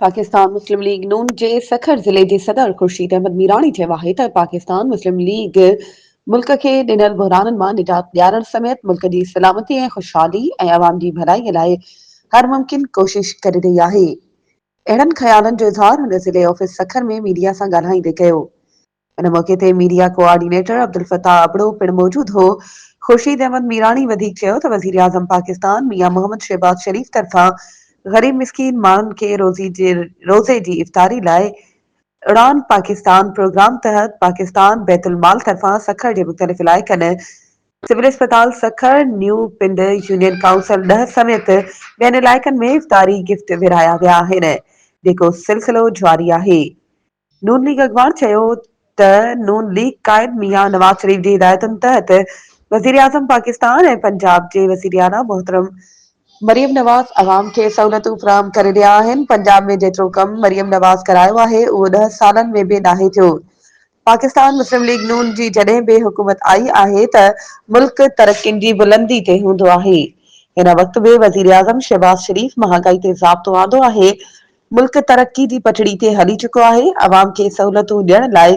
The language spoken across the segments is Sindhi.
پاڪستان مسلم ليگ نون جي سکر ضلعي جي صدر خورشيد احمد ميراڻي چيو آهي ته پاڪستان مسلم ليگ ملڪ کي ڏنل بحرانن مان نجات ڏيارڻ سميت ملڪ جي سلامتي ۽ خوشحالي ۽ عوام جي ڀلائي لاء هر ممڪن ڪوشش ڪري رهي آهي. اهڙن خيالن جو اظهار هن ضلعي آفيس سکر ۾ ميڊيا سان ڳالهائيندي ڪيو. ان موقعي تي ميڊيا ڪوآرڊينيٽر عبدالفتاح ابڙو پڻ موجود هو. خورشيد احمد ميراڻي وڌيڪ چيو ته وزيراعظم پاڪستان ميان محمد شهباز شريف طرفان غريب مسڪين ماڻهن کي روزي جي روزي جي افطاري لاء اڙان پاڪستان پروگرام تحت پاڪستان بيت المال طرفان سکر جي مختلف علائقن سول اسپتال سکر، نيو پنڊ، يونين ڪائونسل ڏهه سميت ٻين علائقن ۾ افطاري گفٽ ورهايا ويا آهن جيڪو سلسلو جاري آهي نون ليگ اڳواڻ چيو ته نون ليگ قائد ميان نواز شريف جي هدايتن تحت وزيراعظم پاڪستان ۽ پنجاب جي وزيراعليٰ محترم مريم نواز عوام کي سهولتون فراهم ڪري رهيا آهن، پنجاب ۾ جيترو ڪم مريم نواز ڪرايو آهي اهو ڏهه سالن ۾ به ناهي ٿيو، پاڪستان مسلم ليگ نون جي جڏهن به حڪومت آئي آهي ته ملڪ ترقين جي بلندي تي هوندو آهي، هن وقت به وزيراعظم شهباز شريف مهانگائي تي ضابطو آندو آهي، ملڪ ترقي جي پٽڙي تي هلي چڪو آهي، عوام کي سهولتون ڏيڻ لاء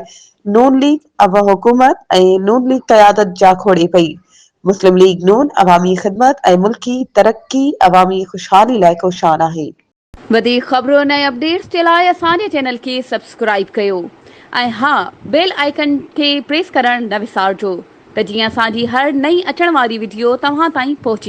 نون ليگ ۽ حڪومت ۽ نون ليگ قيادت جاکوڙي پئي، مسلم ليگ نون عوامي خدمت ۽ ملڪي ترقي عوامي خوشحالي لاء ڪوشان آهي. وڌيڪ خبرن ۽ اپڊيٽس جي لاء اسان جي چينل کي سبسڪرائيب ڪيو ۽ ها بيل آئيڪن کي پريس ڪرڻ نه وسارجو ته جيئن اسان جي هر نئين اچڻ واري وڊيو توهان تائين پهچي